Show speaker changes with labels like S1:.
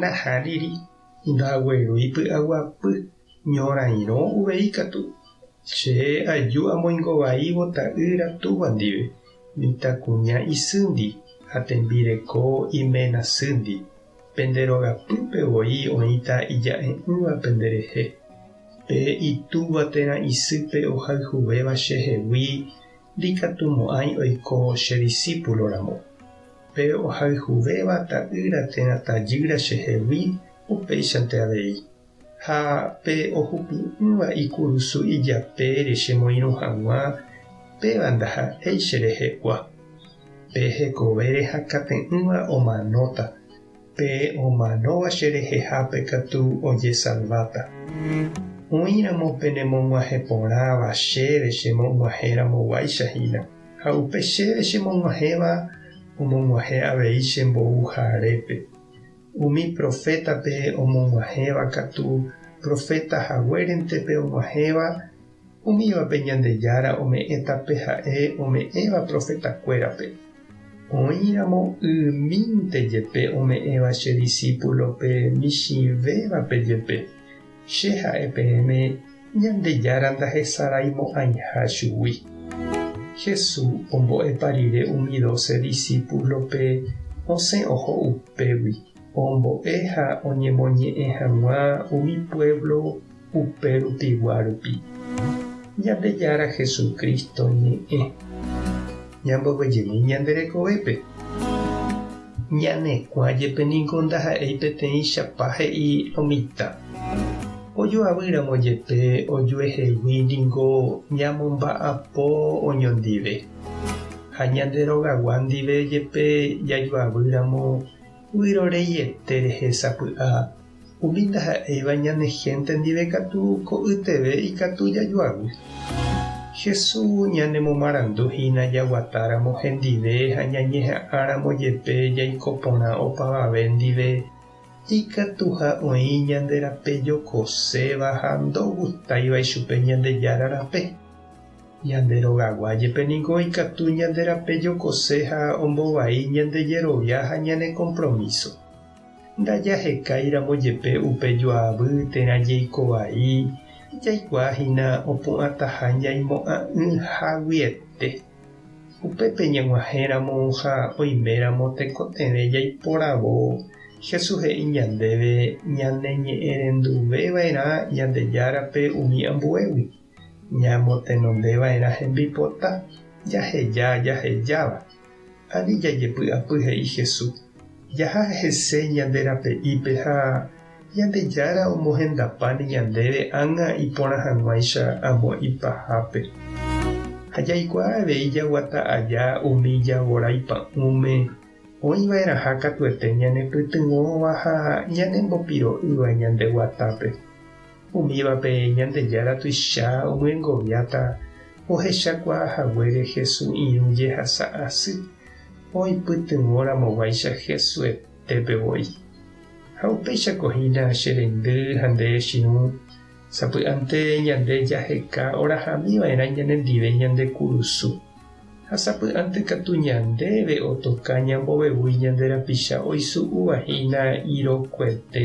S1: Nahá'iri ndagueroí py'aguapy, ñorairõ uvei katu. Che aju amoingovaívo ta'ýra Túva ndive, mitãkuña isýndi ha tembireko iména sýndi. Pende rogapýpe voi oĩta ija'e'ỹva penderehe. Pe itúva térã isýpe ohayhuvéva chehegui ndikatumo'ãi oiko che disípulo ramo. Pe ohayhuvéva ta'ýra térã tajýra chehegui upéichante avei, ha pe ohupi'ỹva ikurusu ijapére chemoirũ hag̃ua, péva ndaha'éi cherehegua. Pe hekovére hakãte'ỹva omanóta, Pe omanóva cherehehápe katu ojesalváta. Oĩramo penemog̃uahẽ porãva chéve chemog̃uahẽramo guáicha hína, ha upe chéve chemog̃uahẽva omog̃uahẽ avei che mboúja arépe. Umi profétape omog̃uahẽva katu proféta haguérentepe og̃uahẽva Umívape Ñandejára ome'ẽta pe ha'e ome'ẽva profetakuérape. Oĩramo ymínte jepe ome'ẽva che disípulope michĩvévape jepe, Che ha'e peẽme Ñandejára ndahesaraimo'ãiha chugui. Jesús ombo'épa rire umi doce disípulope osẽ oho upégui ombo'e ha oñemoñe'ẽ hag̃ua umi puévlo Upe rupigua rupi, Ñandejára Jesucristo ñe'ẽ ñamboguejemi ñande rekovépe. Ñanekuã jepe ningo ndaha'éi peteĩchapa he'i lo mitã. Ojoavy ramo jepe ojuehegui ningo ñamomba'apo oñondive. Ha ñande rogagua ndive jepe jajoavy ramo, vyrorei ete rehe sapy'a. Umi ndaha'éiva ñane hénte ndive katu ko'yteve ikatu jajoavy. Jesús ñanemomarandu hína jaguatáramo hendive ha ñañeha'ãramo jepe jaiko porã opavave ndive, ikatuha oĩ ñande rape jokoséva ha ndogustáiva ichupe Ñandejára rape. Ñande rogagua jepe ningo ikatu ñande rape jokose ha ombovai ñande jerovia ha ñane kompromíso. Ndajahekáiramo jepe upe joavy térã jeiko vai, jaikuaa hína opu'ãtaha ñaimo'ã'ỹ haguiete. Upépe ñag̃uahẽramo ha oiméramo tekotevẽ jaiporavo, Jesús he'i ñandéve ñaneñe'ẽrenduveva'erã Ñandejárape umi ambuégui, ñamotenondeva'erã hembipota jaheja jahejáva. Ani jajepy'apy, he'i Hesu, jaha hese ñande rape'ípe ha Ñandejára omohendapáne ñandéve ág̃a iporã hag̃uáicha amo ipahápe. Ha jaikuaa avei jaguata aja umi javorái pa'ũme oĩva'erãha katuete ñanepytyvõva ha ñanembopiro'ýva ñande guatápe. Umívape Ñandejára tuicha omyengoviáta ohechakuaa haguére Hesu irũ jehasa asy, oipytyvõ ramoguáicha Hesu etépe voi. Ha upéichako hína che reindy ha nde echirũ, sapy'ánte ñande jaheka orahamiva'erã ñanendive ñande kurusu. Ha sapy'ánte katu ñandéve otoka ñambovevúi ñande rapicha oisu'úva hína irokuete.